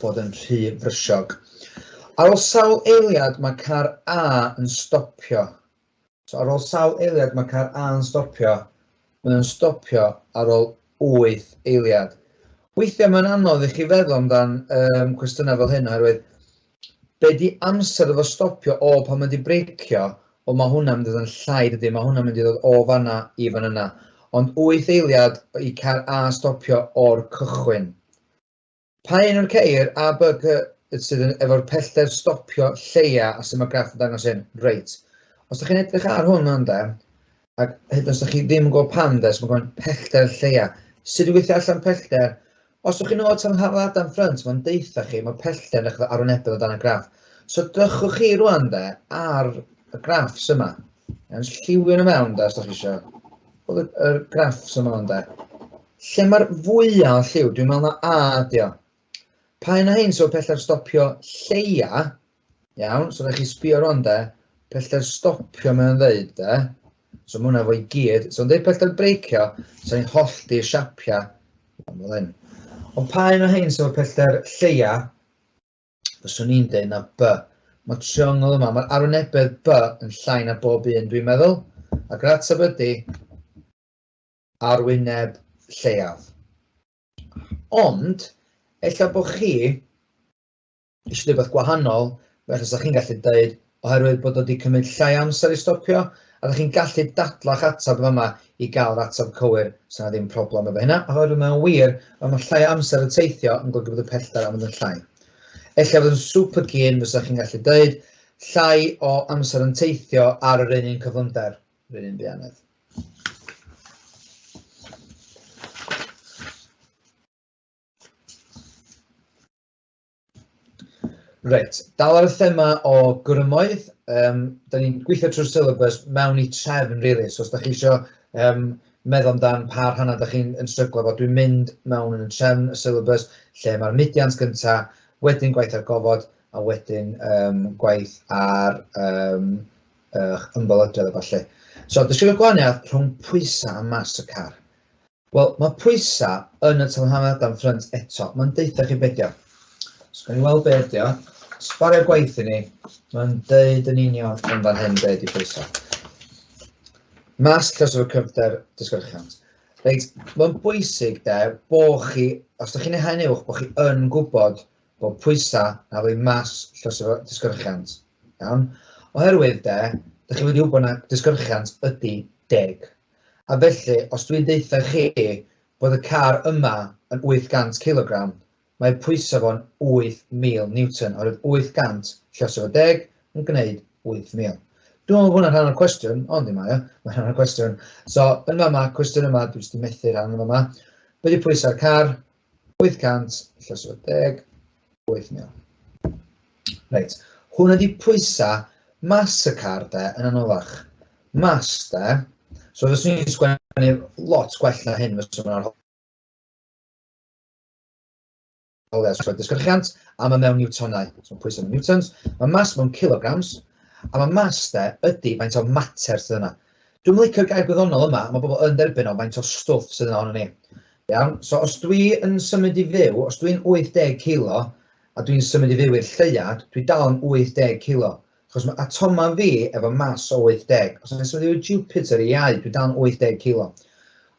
fod yn rhy frysiog. Ar ôl sawl eiliad mae car A yn stopio. So ar ôl sawl eiliad mae car A yn stopio. Mae o'n stopio ar ôl 8 eiliad. Weithiau mae'n anodd i chi feddwl amdan um, cwestiynau fel hyn oherwydd be di amser efo stopio o pan mae di breicio o mae hwnna'n mynd i ddod yn llai dydy, mae hwnna'n mynd i ddod o fanna i fan yna. Ond 8 eiliad i car A stopio o'r cychwyn. Pa un o'r ceir A, B, C sydd yn efo'r pellter stopio lleia a sy'n ma graff yn dangos hyn? Reit. Os ydych chi'n edrych ar hwn yna de, ac hyd os ydych chi ddim yn gwybod pam de, so mae'n pellter lleia. Sut i weithio allan pellter? Os ydych chi'n ôl tan haflad am ffrynt, mae'n deitha chi, mae pellter yn edrych arwynebedd o dan y graff. So dychwch chi rwan de ar y graffs yma. Yn lliwio nhw mewn de, os ydych chi eisiau. Oedd y graffs yma yna de. Lle mae'r fwya o lliw? Dwi'n meddwl na A ydi o. Pa un o hyn sy'n pellter stopio lleia? Iawn, so rhaid chi sbio rwan de. Pellter stopio mae'n ddeud de. So mae hwnna fo i gyd. So yn dweud pellter breicio, so ni'n hollti'r siapiau. Ond pa un o hyn sy'n pellter lleia? Fyswn i'n dweud na B. Mae triongl yma, mae'r arwynebedd B yn llai na bob un dwi'n meddwl. Ac yr ateb ydy arwyneb lleiaf. Ond, ella bod chi eisiau rhywbeth gwahanol, felly sa chi'n gallu dweud, oherwydd bod wedi cymryd llai amser i stopio, a da chi'n gallu dadla'ch atab yma i gael yr atab cywir, sy'n ddim problem efo hynna, oherwydd mae'n wir, ond mae llai amser y teithio yn golygu bod y pellter am fod yn llai. Ella bod yn super gyn, fysa chi'n gallu dweud, llai o amser yn teithio ar yr un un cyflymder. Rwy'n un ddianedd. Reit, dal ar y thema o grymoedd, um, da ni'n gweithio trwy'r syllabus mewn i trefn, really, so os da chi eisiau um, meddwl amdan pa rhannau da chi'n stryglo fo, dwi'n mynd mewn yn y trefn y syllabus lle mae'r mudiant gyntaf, wedyn gwaith ar gofod, a wedyn um, gwaith ar um, uh, ymbolodiad a falle. So, disgrifio gwahaniaeth rhwng pwysau a mas y car. Wel, mae pwysau yn y tanhanedd am ffrynt eto. Mae'n deitha chi bedio. So, gan i weld be ydi o. Sbario gwaith i ni. Mae'n deud yn union yn fan hyn be ydi pwysau. Mas lles o'r cyfder disgyrchiant. Reit, mae'n bwysig de, bo chi, os ydych chi'n ehangu uwch, bo chi yn gwybod bod pwysau a rhoi mas llosgi'r disgyrchiant. Iawn? Oherwydd de, dych chi wedi wybod na disgyrchiant ydy deg. A felly, os dwi'n deutha chi bod y car yma yn 800 kilogram, mae pwysau fo'n 8,000 newton, oherwydd 800 llosio fo deg yn gwneud 8,000. Dwi'n meddwl bod hwnna'n rhan o'r cwestiwn, ond ddim mae o, mae'n rhan o'r cwestiwn. So, yn fama, cwestiwn yma, dwi'n jyst methu rhan yma. Be di pwysau'r car? 800 llyswyd deg, 8,000. Reit, hwn ydi pwysau mas y car de, yn anoddach. Mas de, so fes ni'n sgwennu lot gwell na hyn, fes ni'n ar holiau sgwennu disgyrchiant, a mae mewn newtonau, so pwysau mewn newtons, mae mas mewn kilograms, a mae mas de ydy faint o mater sydd yna. Dwi'm yn licio'r gair gwyddonol yma, mae pobl yn derbyn o faint o stwff sydd yna ohono ni. Iawn? So os dwi yn symud i fyw, os dwi'n 80 kilo a dwi'n symud i fyw i'r lleuad, dwi dal yn 80 kilo. Chos mae atomau fi efo mass o 80. Os dwi'n symud i fyw i Jupiter i iau, dwi dal yn 80 kilo.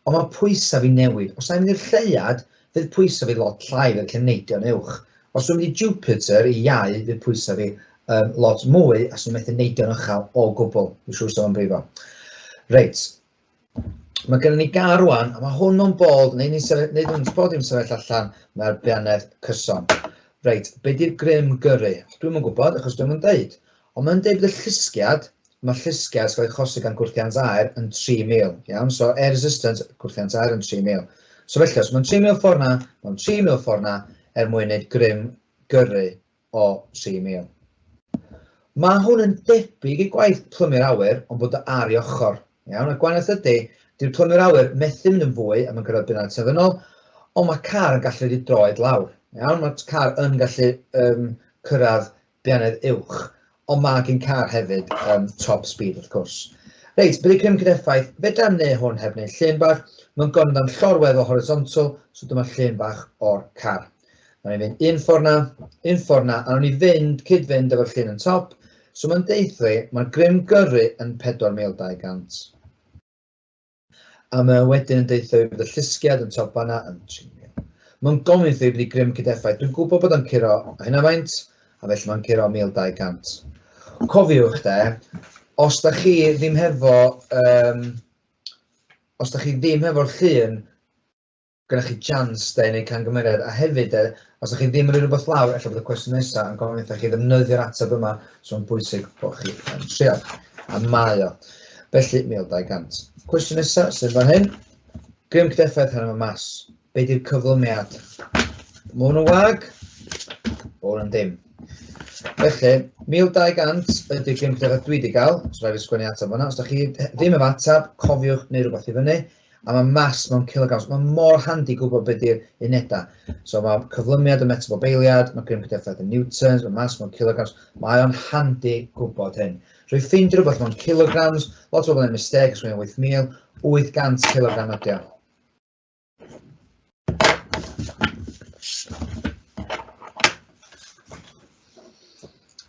Ond mae pwysau fi'n newid. Os na i'n mynd i'r lleuad, fydd pwysau fi lot llai fel lle neidio'n uwch. Os dwi'n mynd i Jupiter i iau, fydd pwysau fi yn lot mwy a swn i methu neidio'n uchel o gwbl. Dwi'n siŵr sef o'n brifo. Reit. Mae gennym ni gar rwan, a mae hwn o'n bold, neu ni'n sefyll, neu dwi'n bod i'n sefyll allan, mae'r bianedd cyson. Reit, be di'r grym gyrru? Dwi'n yn gwybod, achos dwi'n yn deud. Ond mae'n deud bod y llusgiad, mae'r llusgiad sy'n cael ei achosi gan gwrthiant aer yn 3,000, iawn? So air resistance, gwrthiant aer yn 3,000. So felly, os mae'n 3,000 ffordd na, mae'n 3,000 ffordd na er mwyn wneud grym gyrru o 3,000. Mae hwn yn debyg i gwaith plymu'r awyr ond bod o ar ei ochr, iawn? Y gwahaniaeth ydy, dyw'r plymu'r awyr methu mynd yn fwy a mae'n gyrraedd bunnau terfynol, ond mae car yn gallu rhedeg droed lawr, iawn? Mae'r car yn gallu um, cyrraedd Beirniaid uwch, ond mae gen car hefyd um, top speed wrth cwrs. Reit, bydd y grym gyda effaith, fedra am neu hwn heb wneud llun bach, mae'n gormod am llorwedd o horizontal, so dyma llun bach o'r car. Nawr ni'n fynd un ffordd na, un ffordd na, a nawr ni fynd, cyd-fynd efo'r llun yn top, so mae'n deithio, mae'r grym gyrru yn 4200. A mae o wedyn yn deutha fi bod y llusgiad yn top fanna yn trinio. Mae'n gofyn wrtho fi bod i grym cydeffaith. Dwi'n gwybod bod o'n curo a hynna faint, a felly mae'n curo 1200. Cofiwch de, os da chi ddim hefo, um, os da chi ddim hefo'r llun, gyda chi jans de i wneud camgymeriad, a hefyd de, os ydych chi ddim yn rhoi rhywbeth lawr, efallai bod y cwestiwn nesaf yn gofyn wrthych chi ddefnyddio'r ateb yma, so mae'n bwysig bod chi yn trial. A mae o. Felly, 1200. Cwestiwn nesaf sydd fan hyn. Grym cydeffaith hyn yma mas. Be di'r cyflymiad? Mae hwn yn wag, mae hwn yn dim. Felly, 1200 ydy'r grym cydeffaith dwi wedi cael, so rhaid fi sgwennu ateb fanna. Os ydych chi ddim efo ateb, cofiwch neu rhywbeth i fyny. a mae mass mewn kilograms. Mae mor handi gwybod beth yw'r unedau. So mae cyflymiad yn metr o beiliad, mae grym cydeffaith yn newtons, mae mass mewn kilograms. Mae o'n handi gwybod hyn. Rwy ffeindio rhywbeth mewn kilograms, lot o bobl yn misteg, os mae'n 8,800 kilogram ydy o.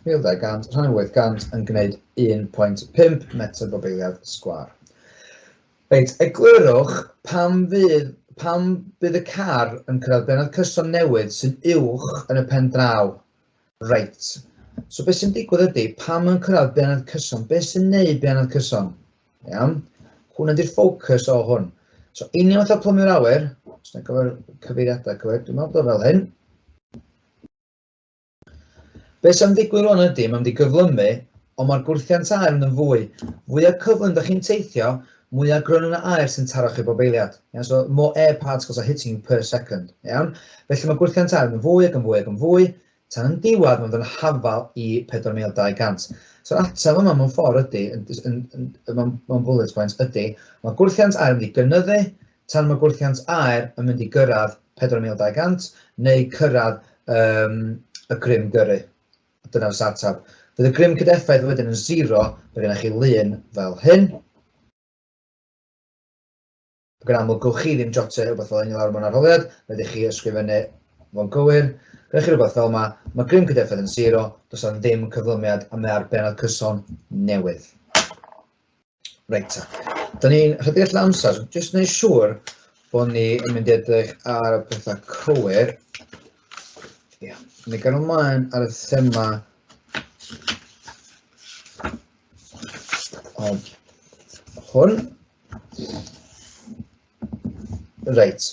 1200 rhan 800 yn gwneud 1.5 metr bob eiliad sgwar. Reit, eglurwch pam fydd, pam bydd y car yn cyrraedd benod cyson newydd sy'n uwch yn y pen draw. Reit. So beth sy'n digwydd ydy, pam yn cyrraedd benod cyson? Beth sy'n neud benod cyson? Iawn? Hwn ydy'r ffocws o hwn. So, union fatha plymio'r awyr, os yna gyfer cyfeiriadau cywir, dwi'n meddwl bod fel hyn. Be sy'n ddigwydd rwan ydy, mae'n mynd i gyflymu, ond mae'r gwrthiant aer yn mynd fwy. Fwyaf cyflym da chi'n teithio, mwyaf gryn yna aer sy'n taro chi bob eiliad. Yeah, so more air particles are hitting you per second. Iawn? Felly mae gwrthiant aer yn fwy ac yn fwy ac yn fwy. tan diwedd mynd yn hafal i 4,200. So'r ateb yma mewn ffordd ydy, yn, yn, yn, mewn, mewn bullet points, ydy, mae gwrthiant aer yn mynd i gynyddu tan mae gwrthiant aer yn mynd i gyrraedd 4,200 neu cyrraedd um, y grym gyrru. Dyna fy ateb. Bydd y grym cydeffaith wedyn yn zero, mae gennych chi lun fel hyn. Ac yn aml, gowch chi ddim jotio rhywbeth fel hyn i lawr mewn arholiad, rhaid chi ysgrifennu fo'n gywir. Gyda chi rhywbeth fel yma, mae grym cydeffaith yn siro, does na ddim cyflymiad a mae ar bennod cyson newydd. Reit ta. Da ni'n rhedeg allan amser, jyst wneud siŵr bod ni yn mynd i edrych ar y pethau cywir. Ie, yeah. ni gan ymlaen ar y thema o hwn. Reit.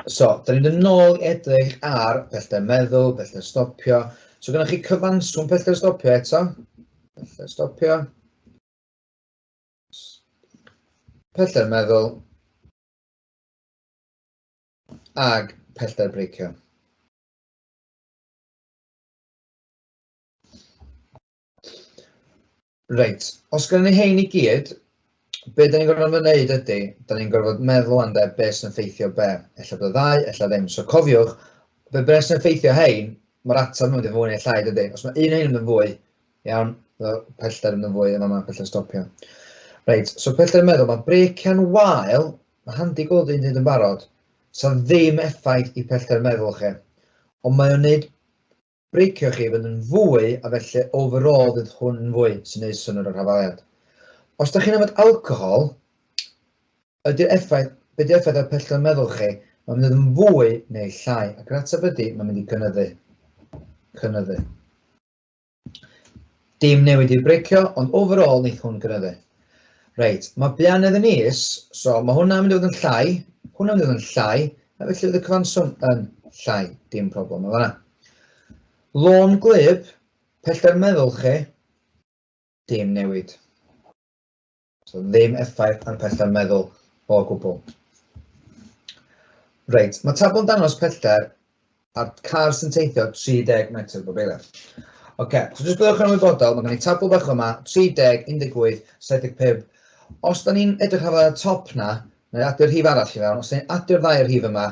So, da ni'n mynd nôl i edrych ar pellter meddwl, pellter stopio. So, gynnwch chi cyfanswm pellter stopio eto. Pellter stopio. Pellter meddwl. Ag pellter breicio. Reit, os gynnon ni hein i gyd, be' 'dan ni'n gorfod fod yn neud ydi, 'dan ni'n gorfod meddwl am de be' sy'n ffeithio be', ella bod y ddau, ella ddim. So cofiwch, be' be' sy'n ffeithio hein, ma'r atab yn mynd yn fwy neu llai dydi? Os mae un o hein yn mynd yn fwy, iawn, fel pellter yn mynd yn fwy yn fan'na, pellter stopio. Reit, so pellter yn meddwl, mae brecian wael, mae handi gweld un hyd yn barod, 'sa ddim effaith i pellter meddwl chi, ond mae o'n neud Breicio chi fydd yn fwy a felly overall fydd hwn yn fwy sy'n neud synnwyr o'r hafaliad. Os da chi'n yfed alcohol, ydy'r effaith, be di effaith ar pellter meddwl chi? Mae'n mynd yn fwy neu llai, ac yr ateb ydy, mae'n mynd i gynyddu. Cynyddu. Dim newid i'r breicio, ond overall neith hwn gynyddu. Reit, mae Bianedd yn is, so mae hwnna'n mynd i fod yn llai, hwnna'n mynd i fod yn llai, a felly fydd y cyfanswm yn llai, dim problem o fanna. Lôn gwlyb, pellter meddwl chi, dim newid. So ddim effaith ar pellter meddwl o gwbl. Reit, mae tabl yn dangos pellter a'r car sy'n teithio 30 metr bob eiliad. Oce, okay, so jyst byddwch yn ymwybodol, mae gen i tabl bach yma, 30, 18, 75. Os da ni'n edrych ar y top na, neu adio rhif arall i fewn, os da ni'n adio ddau rhif yma,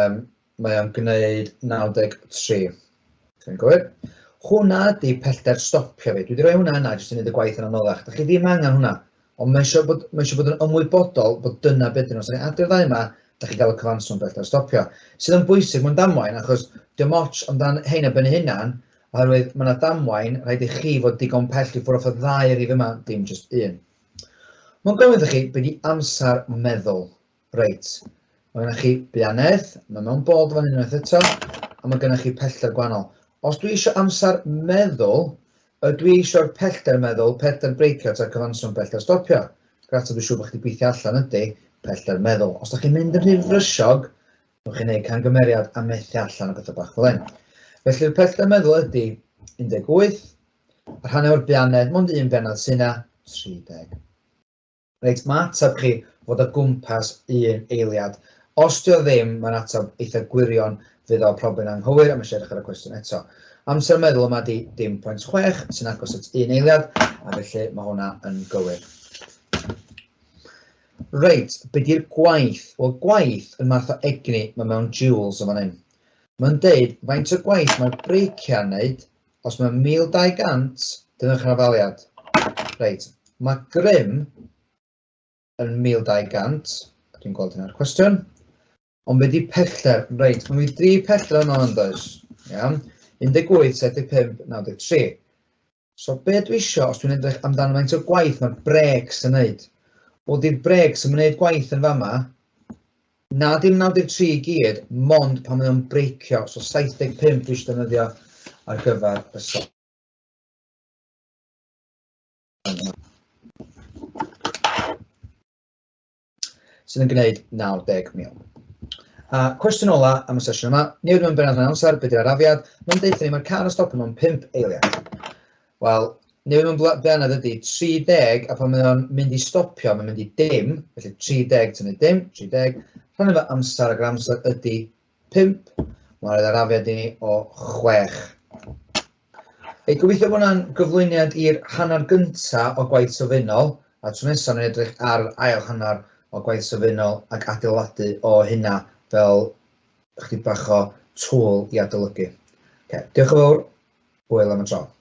um, Mae o'n gwneud 93. Ti'n gwybod? Hwna di pellter stopio fi. Dwi wedi rhoi hwnna yna jyst i wneud y gwaith yn anoddach. Da chi ddim angen hwnna. Ond mae eisiau bod, mae eisiau bod yn ymwybodol bod dyna beth yn os ydych chi'n ddau yma, da chi gael y cyfanswm bellter stopio. Sydd yn bwysig mewn damwain, achos dim ots amdan hein a byn hunan, oherwydd mae yna damwain, rhaid i chi fod digon pell i ffwrdd off y ddau rif yma, dim jyst un. Mae'n gofyn chi, beth i amser meddwl. Reit, mae gennych chi bianedd, mae mewn bod fan hyn unwaith eto, a mae gennych chi pellter gwahanol. Os dwi eisiau amser meddwl, y dwi eisiau'r pellter meddwl, pellter breicio ta cyfanswm pellter stopio. Grat dwi'n siŵr bod chi wedi gweithio allan ydy pellter meddwl. Os da chi'n mynd yn rhy frysog, newch chi wneud cangymeriad a methu allan o bethau bach fel hyn. Felly'r pellter meddwl ydy 18, a rhan o'r bianedd, mond un bianedd sy'n 30. Reit, mae ateb chi fod o gwmpas un eiliad. Os dio ddim, mae'n ateb eitha gwirion, fydd o probyn anghywir a mae eisiau edrych ar y cwestiwn eto. Amser meddwl yma di 0.6 sy'n agos at un eiliad, a felly mae hwnna yn gywir. Reit, be di'r gwaith? Wel, gwaith yn math o egni, mae mewn joules yn fan hyn. Mae'n deud faint o gwaith mae'r breiciau'n neud Os mae 1200, dyna'r rafaliad. Reit, mae grym yn 1200, a dwi'n gweld hynna'r cwestiwn. Ond be di pellter? Reit, mae mi dri pellter yno yn does. Iawn. 18, 75, 93. So be dwi isio, os dwi'n edrych amdano faint o gwaith mae'r breaks yn wneud? Wel, di'r breaks yn gwneud gwaith yn fama, Na dim 93 i gyd, mond pan mae o'n breicio, so 75 dwi isio defnyddio ar gyfer y so. sydd yn gwneud 90,000. A cwestiwn ola am y sesiwn yma, newid mewn benod rhan amser, beth yw'r arafiad? Mae'n dweud ni mae'r car yn stopio mewn 5 eiliad. Wel, neu mae'n bla- blaned ydy, 30, a pan mae o'n mynd i stopio, mae'n mynd i dim, felly 30 tynnu dim, 30, rhan efo amser, ac amser ydy 5, mae'n rhaid arafiad i ni o 6. Ei gobeithio bod hwnna'n gyflwyniad i'r hanner gynta o gwaith sylfaenol, a tro nesaf ni'n edrych ar yr ail hanner o gwaith sylfaenol ac adeiladu o hynna fel chdi bach o tŵl i adolygu. Okay. Diolch yn fawr, hwyl am y tro.